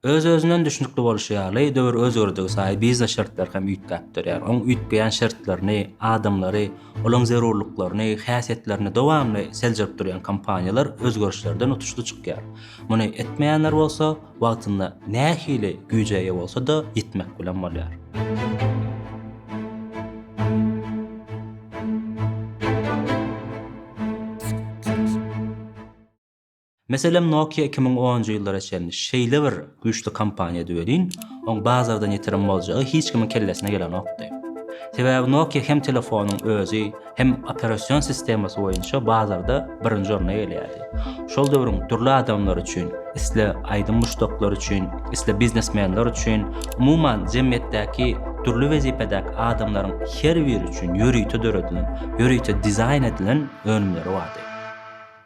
Öz-özünden düşnükli bolşy ýaly, döwür özgerdigi saýy biznes şertleri hem üýtgäp durýar. Oň üýtgeýän şertlerini, adamlary, olaň zerurlyklaryny, häsiýetlerini dowamly seljerip durýan kompaniýalar özgerişlerden utuşly çykýar. Muny etmeýänler bolsa, wagtynda nähili güýje eýe bolsa-da, ýitmek bilen bolýar. Meselem Nokia iki müň onunjy ýyllara çenli şeýle bir güýçli kompaniýady welin, oň bazardan ýitirim boljagy hiç kimiň kellesine gelenokdy. Sebäbi Nokia hem telefonyň özi, hem operasion sistemasy boýunça bazarda birinji orna eýeleýärdi. Şol döwrüň dürli adamlary üçin, isle aýdym muşdaklary üçin, isle biznesmenler üçin, umuman jemgyýetdäki dürli wezipedäki adamlaryň her biri üçin ýörite döredilen, ýörite dizaýn edilen önümleri bardy.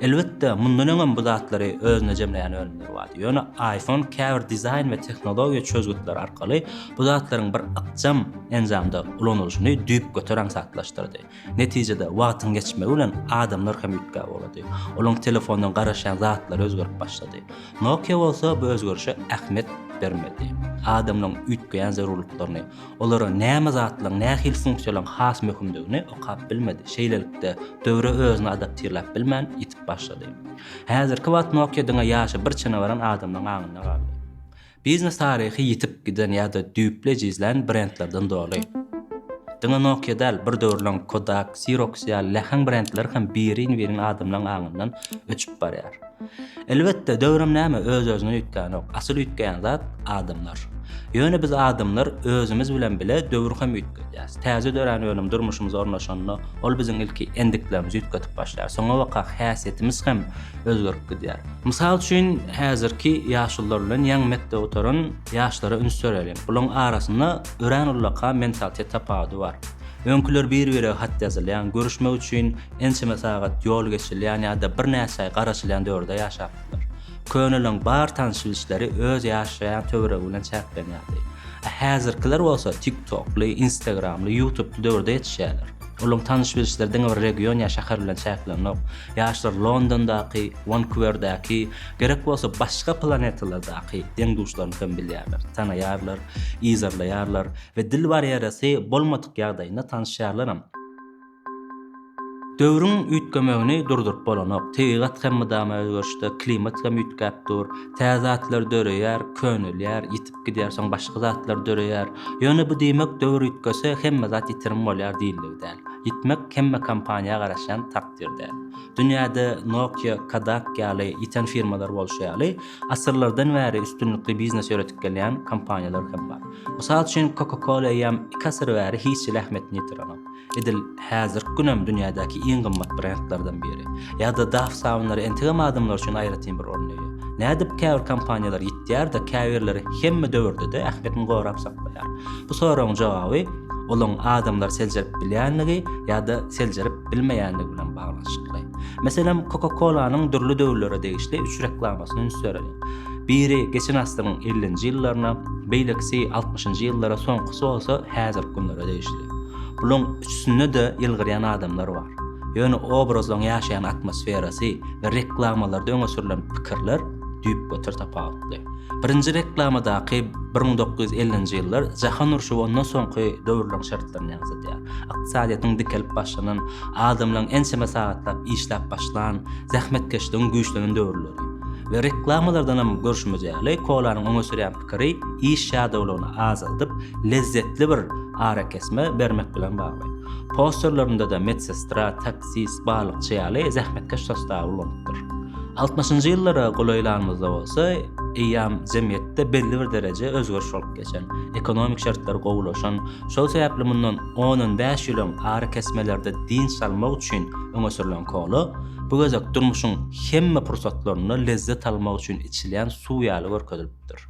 Elbetde, mundan öňem bu zatlary özünde jemleýän önümler bardy. Ýöne iPhone käbir dizaýn we tehnologiýa çözgütleri arkaly bu zatlaryň bir ykjam enjamda ulanylyşyny düýpgöter aňsatlaşdyrdy. Netijede, wagtyň geçmegi bilen adamlar hem üýtgäp ugrady. Olaryň telefondan garaşýan zatlary özgerip başlady. Nokia bolsa bu özgerişe ähmiýet bermedi. Adamlaryň üýtgeýän zerurlyklaryny, Olara näme zatlaryň, nähili funksiýalaryň has möhümdigini okap bilmedi. Şeýlelikde, döwre özüni adaptirläp bilmän, ýitip başlady. Häzirki wagt Nokia diňe ýaşy bir çene baran adamlaryň aňynda galdy. Biznes taryhy ýitip giden ýa-da düýpli ejizlän brendlerden doly. Diňe Nokia däl, bir döwürleň Kodak, Xerox ýaly läheň brendler hem birin-birin adamlaryň aňyndan öçüp barýar. Elbetde, döwrem näme öz-özüne üýtgänok, asyl üýtgeýän zat, adamlar. Ýöne biz adamlar özümiz bilen bile döwri hem üýtgedýäs. Täze dörän önüm durmuşymyza ornaşanda, ol biziň ilki endiklerimizi üýtgedip başlaýar, soňabaka häsiýetimiz hem özgerip gidýär. Mysal üçin, häzirki ýaşulular bilen ýaňy mekdep gutaran ýaşlara üns bereliň. Bularyň arasynda örän ullakan mentalitet tapawudy bar. Öňküler bir-birege hat ýazylýan, görüşmek üçin ençeme sagat ýol geçilýän ýa-da birnäçe aý garaşylýan döwürde ýaşapdylar. Köneleriň bar tanyş-bilişleri öz ýaşaýan töweregi bilen çäklenýärdi. A häzirkiler bolsa TikTokly, Instagramly, Ýutubly döwürde ýetişýärler. Olaryň tanyş-bilişleri diňe bir region ýa şäher bilen çäklenok. Ýaşlar Londondaky, Wankuwerdäki, gerek bolsa başga planetalardaky deň-duşlaryny hem bilýärler, tanaýarlar, yzarlaýarlar we dil barýeresi bolmadyk ýagdaýynda tanyşýarlaram. Döwrüň üýtgemegini durduryp bolanok. Tebigat hem mydama özgerişde, klimat hem üýtgäp dur. Tä zatlar döreýär, könelýär, ýitip gidýär, soň başga zatlar döreýär. Ýöne bu diýmek döwür üýtgese, hemme zat ýitirim bolýar diýildigi däl. Ýitmek hemme kompaniýa garaşýan takdyr däl. Dünýäde Nokia, Kodak ýaly ýiten firmalar bolşy ýaly, asyrlardan bäri üstünlikli biznes ýöredip gelýän kompaniýalar hem bar. Mysal üçin, Coca-Cola eýýäm iki asyr bäri hiç hili ähmiýetini ýitirenok. Edil häzirki günem dünýädäki iň gymmat brendlerden biri. Ýa-da Daf sabynlary entegem adamlar üçin aýratyn bir orun eýe. Nädip käbir kompaniýalar ýitýär-de, käbirleri hemme döwürde-de ähmiýetini gorap saklaýar? Bu soragyň jogaby olaň adamlary seljerip bilýänligi ýa-da seljerip bilmeýänligi bilen baglanyşykly. Meselem, Coca-Cola-nyň dürli döwürlere degişli üç reklamasyny üns bereliň. Biri geçen asyryň ellinji ýyllaryna, beýlekisi altmyşynjy ýyllara, soňkusy bolsa häzirki günlere degişli. Bularyň üçüsinde-de ýylgyrýan adamlar bar. Ýöne obrazlaryň ýaşaýan atmosferasy we reklamalarda öňe sürlen pikirler düýpgöter tapawutly. Birinji reklamadaky bir müň dokuz ýüz ellinji ýyllar jahan urşy we ondan soňky döwürleriň şertlerini ýaňzydýar. Ykdysadyýetiň dikelip başlanan, adamlaryň ençeme sagatlap işläp başlan, zähmetkeşligiň güýçlenen döwürleri. We reklamalardan hem görşümiz ýaly, kolanyň öňe sürýän pikiri iş ýadawlygyny azaldyp, lezzetli bir arakesme bermek bilen bagly. Posterlerinde-de medsestra, taksist, balykçy ýaly zähmetkeş sostawy ulanypdyr. Altmyşynjy ýyllara golaýlanymyzda bolsa, eýýam jemgyýetde belli bir dereje özgeriş bolup geçen, ekonomik şertler gowulaşan, şol sebäpli mundan on-on bäş ýyl öň arakesmelerde dynç almak üçin öňe sürlen kola, Bu gezek durmuşyň hemme pursatlarynda lezzet almak üçin içilýän suw ýaly görkezilipdir.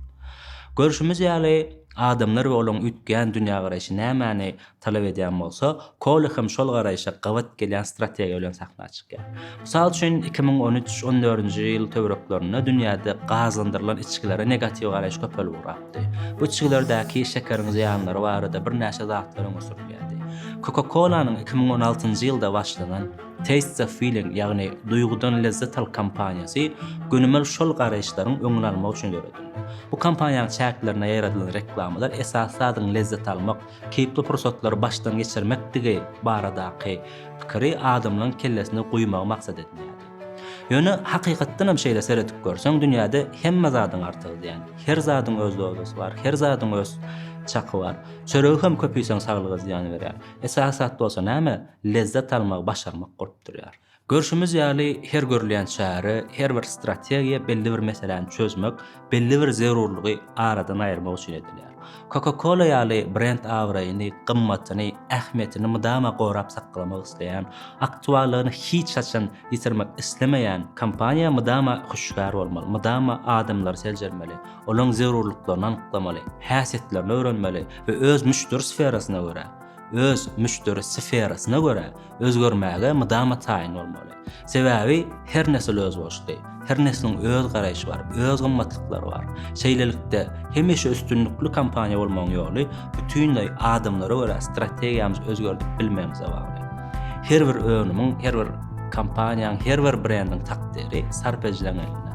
Görşümiz ýaly, adamlar we olaryň üýtgeýän dünýägaraýşy nämäni talap edýän bolsa, Kolo hem şol garaýşa gabat gelýän strategiýa bilen sahna çykýar. Mysal üçin, iki müň on üç, on dördünji ýyl töwereklerinde dünýäde gazlandyrylan içgilere negatiw garaýyş köpelip ugrapdy. Bu içgilerdäki şekeriň zyýanlary barada birnäçe zatlar öňe sürülýärdi. Coca-Cola-nyň iki müň on altynjy ýylda başlanan, Taste the Feeling, ýagny Duýgudan lezzet al kampaniýasy gönümel şol garaýyşlaryň öňüni almak üçin döredildi. Bu kampaniýanyň çäklerinde ýaradylan reklamalar esasy zadyň lezzet almak, keýpli pursatlary başdan geçirmekdigi baradaky pikiri adamlaryň kellesine guýmagy maksat edinýärdi. Ýöne hakykatdan hem şeýle seredip görseň dünýäde hemme zadyň artygy ziýan. Her zadyň öz dozasy bar, her zadyň öz çaky bar. Çöregi hem köp iýseň saglyga ziýan berýär. Esasy zat bolsa näme? lezzet almagy başarmak bolup durýar. Görşümiz ýaly, her görülýän çäre, her bir strategiýa belli bir meseläni çözmek, belli bir zerurlygy aradan aýyrmak üçin edilýär. Coca-Cola ýaly brend abraýyny, gymmatyny, ähmiýetini mydama gorap saklamak isleýän, aktuallygyny hiç haçan ýitirmek islemeýän kompaniýa mydama hüşgär bolmaly, mydama adamlary seljermeli, olaryň zerurlyklaryny anyklamaly, häsiýetlerini öwrenmeli we öz müşderi sferasyna görä, öz müşderi sferasyna görä özgermäge mydama taýyn bolmaly. Sebäbi her nesil özboluşly, her nesliň öz garaýşy bar, öz gymmatlyklary bar. Şeýlelikde, hemişe üstünlikli kompaniýa bolmagyň ýoly bütinleý adamlara görä strategiýamyzy özgerdip bilmegimize bagly. Her bir önümiň, her bir kompaniýanyň, her bir brendiň takdyry sarp edijileň elinde.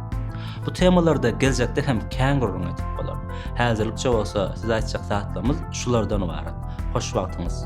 Bu temalarda geljekde hem kän gürrüň edip bolar. Häzirlikçe bolsa size aýtjak zatlarymyz şulardan ybarat. Hoş wagtyňyz.